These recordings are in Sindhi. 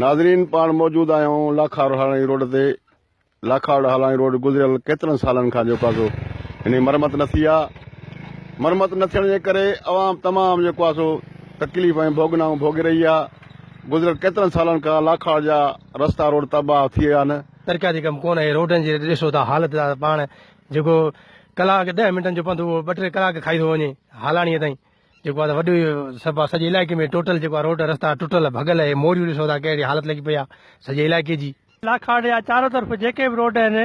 ناظرين پاڻ موجود آهيون لاکاڙ هالاڻي روڊ تي لاکاڙ هالاڻي روڊ گذريل ڪيترن سالن کان جيڪو آسو ان مرمت نه ٿي آهي مرمت نه ٿيڻ جي ڪري عوام تمام جيڪو آهي سو تڪليف ۽ ڀوڳنائون ڀوڳي رهي آهي گذريل ڪيترن سالن کان لاکاڙ جا رستا روڊ تباهه ٿي ويا آهن سرڪاري ڪم ڪونه آهي روڊن جي ڏسو ته حالت پاڻ جيڪو ڪلاڪ ڏهه منٽن جو پنڌ اهو ٻه ٽي ڪلاڪ کائي ٿو وڃي هالاڻيء تائين جيڪو آهي وڏو سبب آهي سڄي علائقي ۾ ٽوٽل جيڪو آهي روڊ رستا ٽٽل ڀڳل اهي موريون ڏسو ٿا ڪهڙي حالت لڳي پئي آهي سڄي علائقي جي. لاکاڙ جا چارو طرف جيڪي به روڊ آهن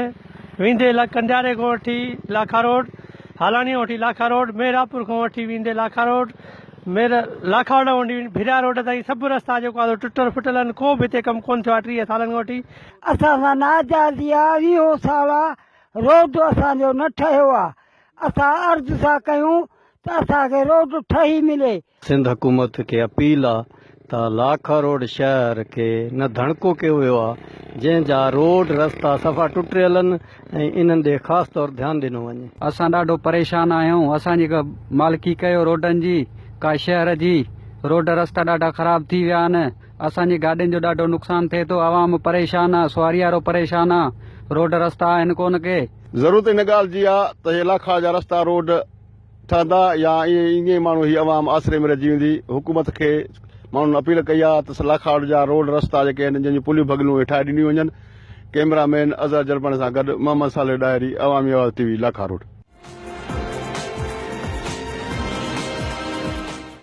ويندي لڳ ڪنڊياري کان وٺي لاکا روڊ هالاڻيء کان وٺي لاکا روڊ مهراپور کان وٺي ويندي لاکا روڊ مير لاکاڙ کان وٺي ڀريا روڊ تائين سڀ رستا جيڪو آهي ٽٽل ڦٽل آهن ڪو به هتي ڪم ڪونه ٿيو آهي ٽيهه سالن کان وٺي اسان سان ناجائز يا ويهو سالا روڊ اسان جو نه ٺهيو آ اسان عرض ٿا ڪيون ته اسان کي روڊ ٺهي ملي. سنڌ حڪومت کي اپيل آ ته لاکا روڊ شهر کي نه ڌڻڪو ڪيو ويو آ جنهن جا روڊ رستا صفا ٽٽريل ان ۽ انهن ڏي خاص طور ڌيان ڏنو وڃي. اسان ڏاڍو پريشان آهيون اسان جي مالڪي ڪيو روڊن جي ڪا شهر جي روڊ رستا ڏاڍا خراب ٿي ويا ان. اسان جي گاڏين جو ڏاڍو نقصان ٿئي ٿو عوام پريشان آ سواري وارو پريشان آ روڊ رستا آهن ڪونه ڪي. ضرورت ان ڳالهه جي آ ته هي لاکاڙ جا رستا روڊ ٺهندا يا ائين ئي ائين ماڻهو هي عوام آسري ۾ رهجي ويندي حڪومت کي ماڻهن اپيل ڪئي آ ته لاکاڙ جا روڊ رستا جيڪي آهن جن جون پليون ڀڳلون اهي ٺاهي ڏنيون وڃن ڪئميرا مين اظهر جرباڻي سان گڏ محمد صالح ڏاهري عوامي آواز ٽي وي لاکاروڊ.